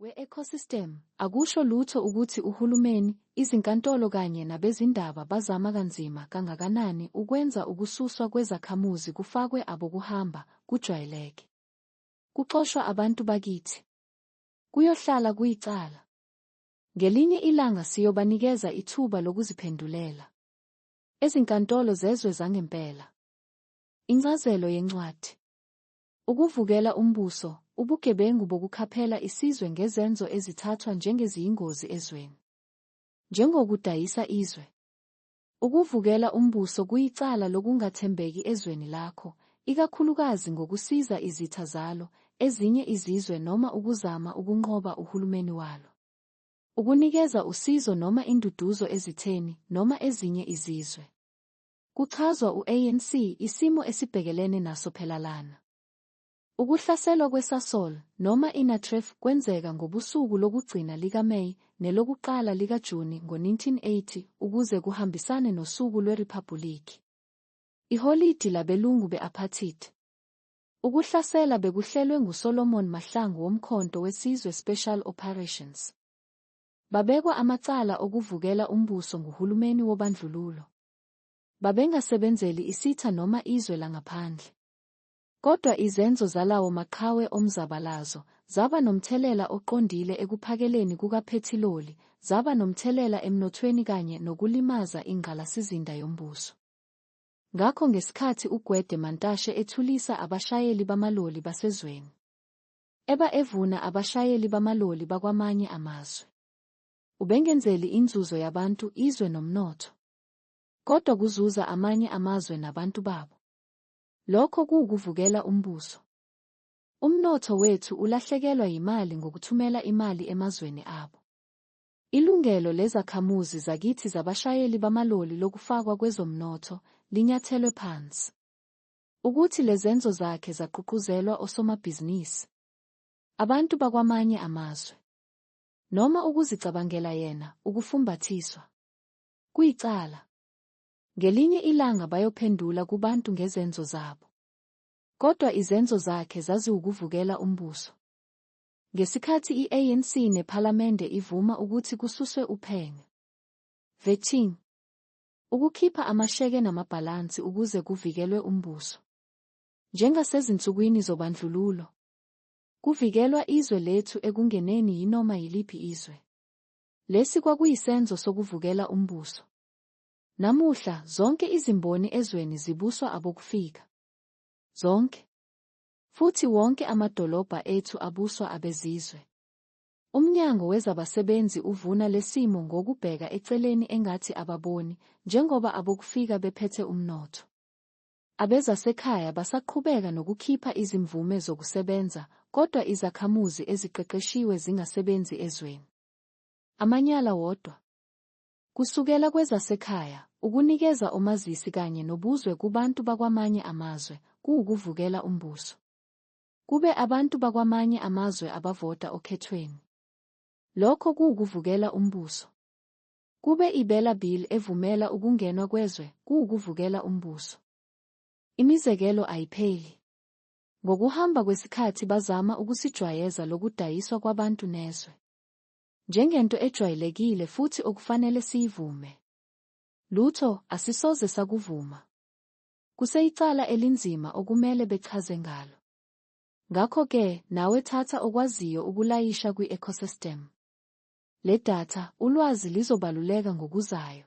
We-ecosystem, akusho lutho ukuthi uhulumeni, izinkantolo kanye nabezindaba bazama kanzima kangakanani ukwenza ukususwa kwezakhamuzi kufakwe abokuhamba kujwayeleke. Kuxoshwa abantu bakithi. Kuyohlala kuyicala. Ngelinye ilanga siyobanikeza ithuba lokuziphendulela. Ezinkantolo zezwe zangempela. Incazelo yencwadi. Ukuvukela umbuso, ubugebengu bokukhaphela isizwe ngezenzo ezithathwa njengeziyingozi ezweni. Njengokudayisa izwe. Ukuvukela umbuso kuyicala lokungathembeki ezweni lakho, ikakhulukazi ngokusiza izitha zalo, ezinye izizwe noma ukuzama ukunqoba uhulumeni walo. Ukunikeza usizo noma induduzo ezitheni noma ezinye izizwe. Kuchazwa u-ANC isimo esibhekelene naso phela lana. Ukuhlaselwa kweSasol, noma iNatref, kwenzeka ngobusuku lokugcina likaMay nelokuqala likaJuni ngo-1980 ukuze kuhambisane nosuku lweRiphabhulikhi, iholidi labelungu be-apartheid. Ukuhlasela bekuhlelwe nguSolomon Mahlangu woMkhonto weSizwe Special Operations. Babekwa amacala okuvukela umbuso nguhulumeni wobandlululo. Babengasebenzeli isitha noma izwe langaphandle. Kodwa izenzo zalawo maqhawe omzabalazo zaba nomthelela oqondile ekuphakeleni kukaphethiloli, zaba nomthelela emnothweni kanye nokulimaza ingqalasizinda yombuso. Ngakho ngesikhathi uGwede Mantashe ethulisa abashayeli bamaloli basezweni, eba evuna abashayeli bamaloli bakwamanye amazwe. Ubengenzeli inzuzo yabantu, izwe nomnotho. Kodwa kuzuza amanye amazwe nabantu babo. Lokho kuwukuvukela umbuso. Umnotho wethu ulahlekelwa yimali ngokuthumela imali emazweni abo. Ilungelo lezakhamuzi zakithi zabashayeli bamaloli lokufakwa kwezomnotho linyathelwe phansi. Ukuthi lezenzo zakhe zaququzelwa osomabhizinisi. Abantu bakwamanye amazwe. Noma ukuzicabangela yena, ukufumbathiswa. Kuyicala. Ngelinye ilanga bayophendula kubantu ngezenzo zabo. Kodwa izenzo zakhe zaziwukuvukela umbuso. Ngesikhathi i-ANC nePhalamende ivuma ukuthi kususwe uphenyo. Vetting. Ukukhipha amasheke namabhalansi ukuze kuvikelwe umbuso. Njengasezinsukwini zobandlululo. Kuvikelwa izwe lethu ekungeneni yinoma yiliphi izwe. Lesi kwakuyisenzo sokuvukela umbuso. Namuhla, zonke izimboni ezweni zibuswa abokufika. Zonke. Futhi wonke amadolobha ethu abuswa abezizwe. UMnyango wezabaSebenzi uvuna lesimo ngokubheka eceleni engathi ababoni, njengoba abokufika bephethe umnotho. Abezasekhaya basaqhubeka nokukhipha izimvume zokusebenza kodwa izakhamuzi eziqeqeshiwe zingasebenzi ezweni. Amanyala wodwa. Kusukela kwezasekhaya, ukunikeza omazisi kanye nobuzwe kubantu bakwamanye amazwe kuwukuvukela umbuso. Kube abantu bakwamanye amazwe abavota okhethweni. Lokho kuwukuvukela umbuso. Kube ibela bill evumela ukungenwa kwezwe kuwukuvukela umbuso. Imizekelo ayipheli. Ngokuhamba kwesikhathi bazama ukusijwayeza lokudayiswa kwabantu nezwe. Njengento ejwayelekile futhi okufanele siyivume. Lutho, asisoze sakuvuma. Kuseyicala elinzima okumele bechaze ngalo. Ngakho-ke, nawe thatha okwaziyo ukulayisha kwi-ecosystem. Le datha, ulwazi lizobaluleka ngokuzayo.